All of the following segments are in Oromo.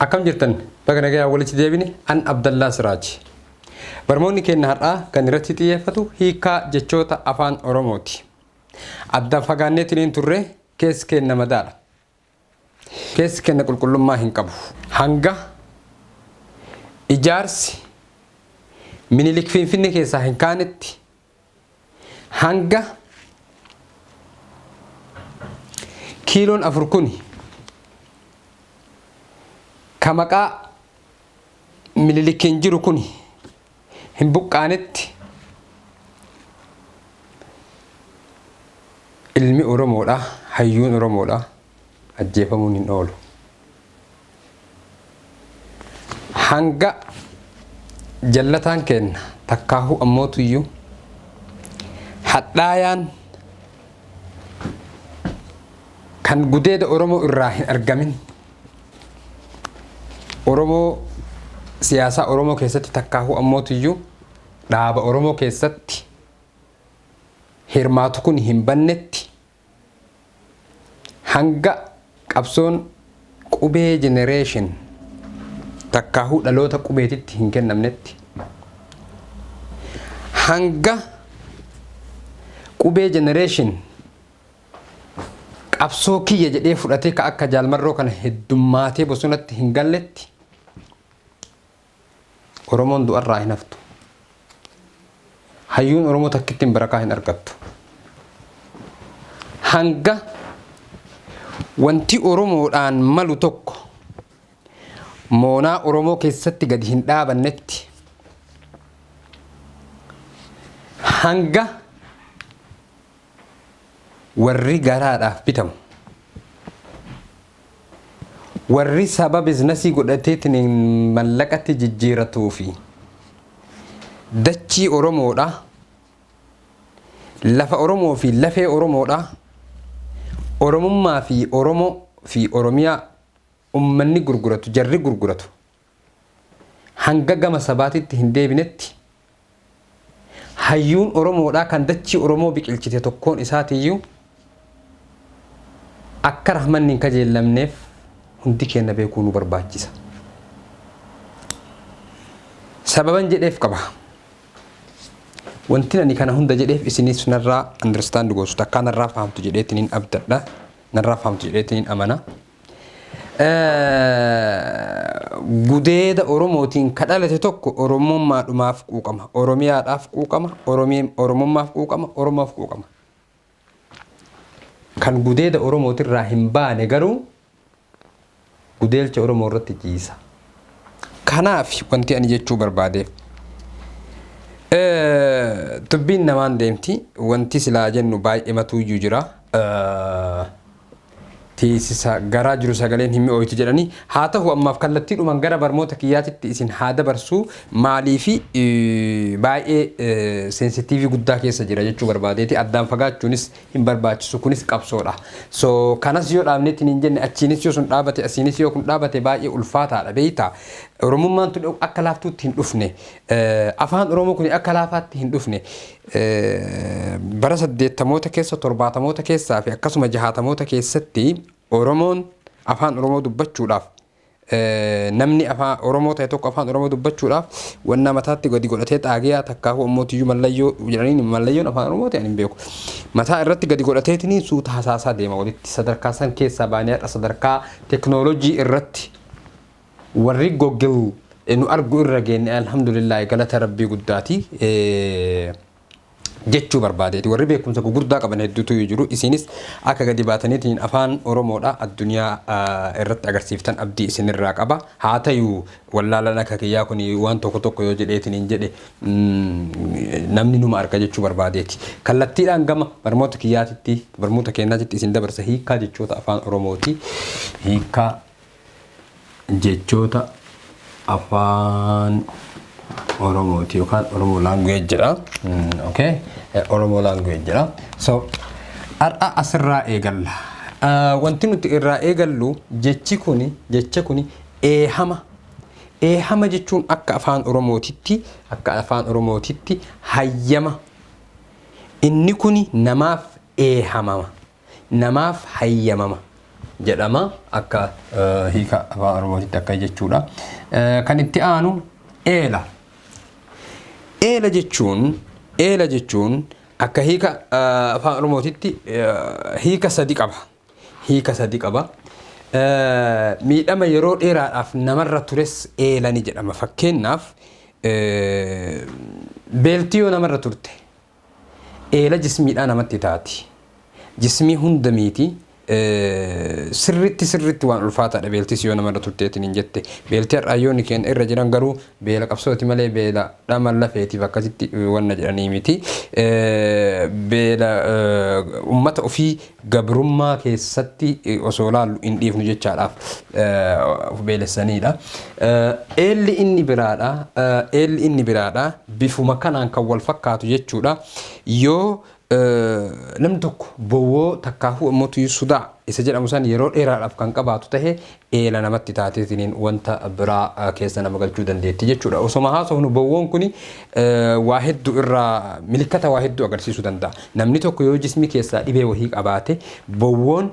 Akkam jirtan baga nagayaan walitti deebine an Abdallaa Siraaj. Barmoonni keenna har'aa kan irratti xiyyeeffatu hiikkaa jechoota afaan Oromooti. Addaan fagaanneetiniin turre keessi keenna madaadha. Keessi keenna qulqullummaa hin qabu. Hanga ijaarsi minilik Finfinnee keessaa hin kaanetti hanga kiiloon afur kuni ka maqaa mililikkiin jiru kuni hin buqqaanetti ilmi Oromoodha hayyuun Oromoodha ajjeefamuun hin oolu. hanga jallataan keenna takkaahuu ammootuyyuu hadhaayaan kan gudeeda Oromoo irraa hin argamin Oromoo siyaasaa Oromoo keessatti takkaahuu ammootuyyuu dhaaba Oromoo keessatti hirmaatu kun hin bannetti Hanga qabsoon qubee generation takkaahuu dhaloota qubeetitti hin kennamnetti, hanga qubee generation qabsoo kiyya jedhee fudhatee ka akka Jaal Marroo kana heddummaatee bosonatti hin galletti, Oromoon du'arraa hin haftu. Hayyuun Oromoo takkittiin barakaa hin argattu. Hanga wanti Oromoodhaan malu tokko moonaa Oromoo keessatti gadi hin dhaabannetti hanga Warri garaadhaaf bitamu. Warri saba biznasii godhateetiin mallaqatti jijjiiratuu fi dachii Oromoodha. Lafa Oromoo fi lafee Oromoodha. Oromummaa fi Oromoo fi Oromiyaa ummanni gurguratu, jarri gurguratu. hanga gama sabaatitti hin deebinetti, hayyuun Oromoodhaa kan dachii Oromoo biqilchite tokkoon isaatiiyyuu akka rahmanni hin kajeellamneef hundi keenna beekuu nu barbaachisa. Sababan jedheef qaba. Wantin ani kana hunda jedheef isinis narraa understand gootu takkaa narraa fahamtu jedheetiniin abdadha. Narraa fahamtu jedheetiniin amana. gudeeda Oromootiin ka dhalate tokko Oromummaadhumaaf quuqama, Oromiyaadhaaf quuqama, Oromummaaf quuqama, Oromoof quuqama. Kan gudeeda Oromootirraa hin baane garuu gudeelcha Oromoo irratti ciisa. Kanaaf wanti ani jechuu barbaadeef dubbiin namaan deemti wanti silaa jennu baay'ee matuuyyuu jira. teessisa garaa jiru sagaleen hin mi'ooytu jedhani. Haa tahu ammaaf kallattiidhumaan gara barmoota kiyyaatitti isin haa dabarsuu maaliifi baay'ee sensitiivii guddaa keessa jira jechuu barbaadeeti addaan fagaachuunis hin barbaachisu kunis qabsoodha. So kanas yoo dhaabneetti niin jenne achiinis yoo sun dhaabate asiinis yoo kun dhaabate baay'ee ulfaataadha beeyta. Oromummaan tun akka laaftuutti hin dhufne afaan Oromoo kun akka laafaatti hin dhufne Bara saddeettamoota keessa, torbaatamoota keessaa fi akkasuma jahaatamoota keessatti Oromoon afaan Oromoo dubbachuudhaaf namni afaan Oromoo ta'e tokko afaan Oromoo dubbachuudhaaf wannaa mataatti gadi godhatee xaagiyaa takkaahuu ammoo tiyyuu mallayyoo jedhaniin mallayyoon afaan Oromoo ta'e hin beeku. Mataa irratti gadi godhateetiniin suuta hasaasaa deema walitti sadarkaa san keessaa baanee har'a sadarkaa teknoolojii irratti Warri Google nu argu irra geenne Alhamdulillaahi galata Rabbii guddaati jechuu barbaadeeti. Warri beekumsa gugurdaa qaban hedduutu jiru. Isiinis akka gadi baataniitiin afaan Oromoodha addunyaa irratti agarsiiftan abdii isinirraa qaba. Haa tayu wallaalan akka kiyyaa kun waan tokko tokko yoo jedheetiin hin jedhe namni numa arga jechuu barbaadeeti. Kallattiidhaan gama barmoota kiyyaatitti barmoota keenyaatitti isin dabarsa hiikkaa jechoota afaan Oromooti. Hiikkaa jechoota afaan oromooti yookaan oromoo language jedha okay oromoo language jedha so har'a asirraa eegalla wanti nuti irraa eegallu jechi kuni jecha kuni eehama eehama jechuun akka afaan oromootitti akka afaan oromootitti hayyama inni kuni namaaf eehamama namaaf hayyamama jedhama akka hiika afaan oromootitti akka jechuudha. Kan itti aanu eela. Eela jechuun eela jechuun akka hiika afaan oromootitti hiika sadi qaba. Hiika sadi qaba. Miidhama yeroo dheeraadhaaf namarra tures eela ni jedhama. Fakkeenyaaf beeltii yoo namarra turte Eela jismiidhaa namatti taati. Jismii hunda miiti. Sirritti sirritti waan ulfaataadha beeltis yoo namarra turteetiin hin jette. Beelti har'aa yooni keenya irra jiran garuu beela qabsooti malee beela dhama lafeetiif akkasitti wanna jedhanii miti. Beela ummata ofii gabrummaa keessatti osoo ilaallu hin dhiifnu jechaadhaaf of beelessaniidha. Eelli inni biraadha. Eelli inni biraadha. Bifuma kanaan kan wal fakkaatu jechuudha. Yoo namni tokko bowwoo takkaahuu ammoo tuyuu sudaa isa jedhamu san yeroo dheeraadhaaf kan qabaatu tahe eela namatti taatee siniin wanta biraa keessa nama galchuu dandeetti jechuudha. Osoma haasofnu bowwoon kun waa hedduu irraa milikkata waa hedduu agarsiisuu danda'a. Namni tokko yoo jismii keessaa dhibee wahii qabaate bowwoon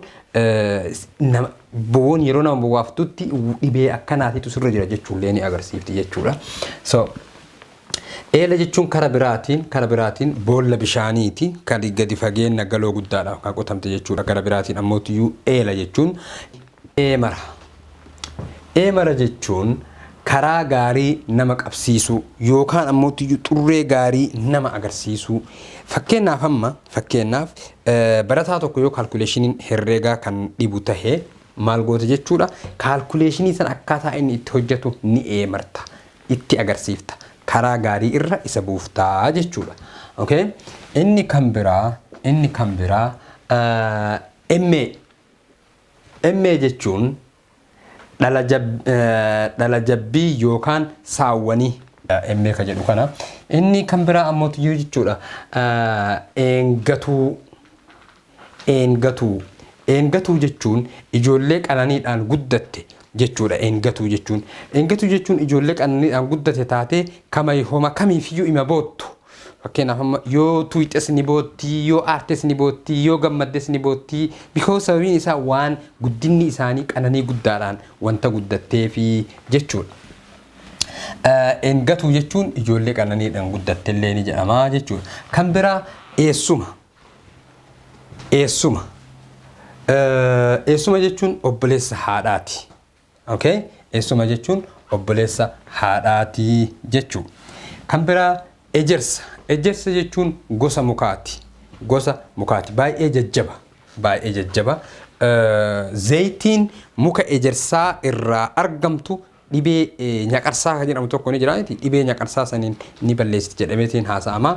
bowwoon yeroo nama bowwaaftutti dhibee akkanaatitu sirra jira jechuullee ni agarsiifti jechuudha. So Eela jechuun kara biraatiin kara biraatiin boolla bishaaniiti kan gadi fageenna galoo guddaadhaaf kan qotamte jechuudha. Kara biraatiin ammoo eela jechuun Eemara. Eemara jechuun karaa gaarii nama qabsiisuu yookaan ammoottiyyuu xurree gaarii nama agarsiisuu. Fakkeenyaaf amma fakkeenyaaf barataa tokko yoo kaalkuleeshiniin herreegaa kan dhibu tahe maal goota jechuudha. Kaalkuleeshinii sana akkaataa inni itti hojjetu ni eemarta. Itti agarsiifta. Karaa gaarii irra isa buuftaa jechuudha. Okay? Inni kan biraa inni kan biraa MA MA jechuun dhala jab, dhala jabbii yookaan saawwanii. MA ka jedhu kana. Inni kan biraa ammoo tiyyuu jechuudha. Eengatuu, eengatuu. Eengatuu jechuun ijoollee qananiidhaan guddatte jechuudha eengatuu jechuun. Eengatuu jechuun ijoollee qananiidhaan guddate taatee kama homa kamiifiyyuu ima boottu. Fakkeenyaaf amma yoo tuuyxes ni bootti, yoo aartes ni bootti, yoo gammaddes ni bootti. Because sababiin isaa waan guddinni isaanii qananii guddaadhaan wanta guddatteefi jechuudha. Engatuu jechuun ijoollee qananiidhaan guddatte illee ni jedhama jechuudha. Kan biraa eessuma. Eessuma. Eessuma jechuun obboleessa haadhaati. Ok eessuma jechuun obboleessa haadhaati jechuu kan biraa ejersa ejersa jechuun gosa mukaati gosa mukaati baay'ee jajjaba baay'ee jajjaba zeeytiin muka ejersaa irraa argamtu dhibee nyaqarsaa kan jedhamu tokko ni jira dhibee nyaqarsaa saniin ni balleessiti jedhameetiin haasa'ama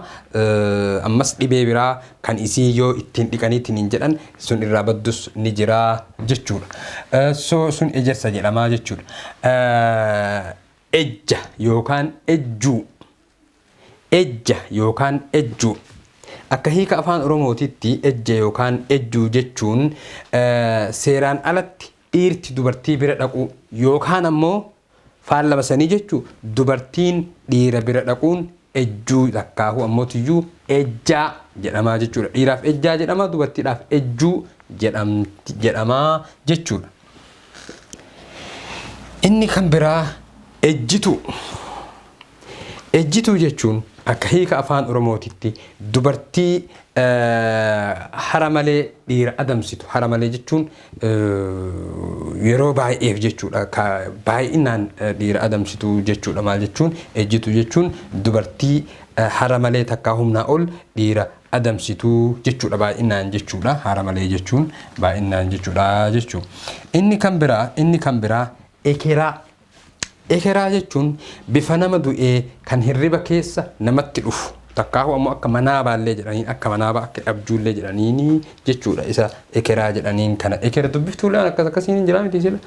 ammas dhibee biraa kan isii yoo ittiin dhiqanii tiniin jedhan sun irraa baddus ni jira jechuudha. So sun ejersa jedhama jechuudha. Ejja yookaan ejjuu Ejja yookaan ejjuu Akka hiika afaan Oromootitti ejja yookaan ejjuu jechuun seeraan alatti dhiirti dubartii bira dhaquu yookaan ammoo Faallama sanii jechuu dubartiin dhiira bira dhaquun ejjuu takkaahuu ammootiyyuu ejjaa jedhamaa jechuudha. Dhiiraaf ejjaa jedhama dubartiidhaaf ejjuu jedhamti jedhamaa jechuudha. Inni kan biraa ejjituu. Ejjituu jechuun akka hiika Afaan Oromootitti dubartii hara malee dhiira adamsitu. Hara malee jechuun yeroo baay'eef jechuudha. Ka baay'inaan dhiira adamsitu jechuudha. Maal jechuun ejjituu jechuun dubartii hara malee takkaa humnaa ol dhiira adamsitu jechuudha. Baay'inaan jechuudha. Hara malee jechuun baay'inaan jechuudha jechuu. Inni kan biraa inni kan biraa ekeraa Ekeraa jechuun bifa nama du'ee kan hirriba keessa namatti dhufu takkaahu ammoo akka manaabaallee jedhaniin akka manaabaa akka dhabjuullee jedhaniini jechuudha isa ekeraa jedhaniin kana eker dubbiftuullee waan akkas akkasiin hin jiraa miti sila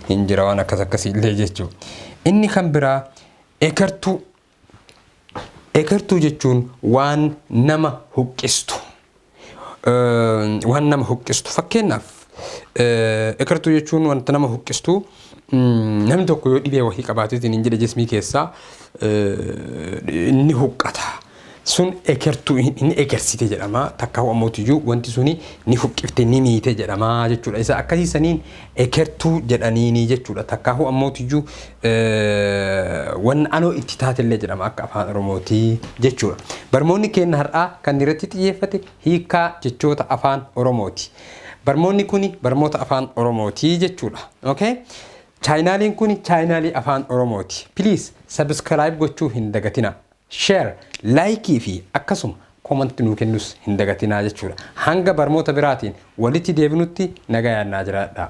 hin jira waan akkas akkasiillee jechuu inni kan biraa ekertuu Ekertuu jechuun waan nama huqqistu. Waan nama huqqistu. Fakkeenyaaf ekertuu jechuun wanta nama huqqistu namni tokko yoo dhibee wahii qabaatee hin jedhe jismii keessaa ni huqqata. Sun ekertuu ni ekersite jedhama. Takka ho'amootiyyuu wanti suni ni huqqifte ni miite jedhama jechuudha. Isa akkasii saniin ekertuu jedhaniini jechuudha. Takka ho'amootiyyuu Wanna anoo itti taatellee jedhama akka afaan oromootii jechuudha. Barmoonni keenna har'aa kan irratti xiyyeeffate hiikkaa jechoota afaan oromooti. Barmoonni kuni barmoota afaan oromootii jechuudha. Okay? Chaayinaaliin kuni chaayinaalii afaan oromooti. Please subscribe gochuu hin dagatina. Share, like fi akkasuma comment nuu kennus hin dagatinaa jechuudha. Hanga barmoota biraatiin walitti deebinutti nagayaan naa jiraadhaa.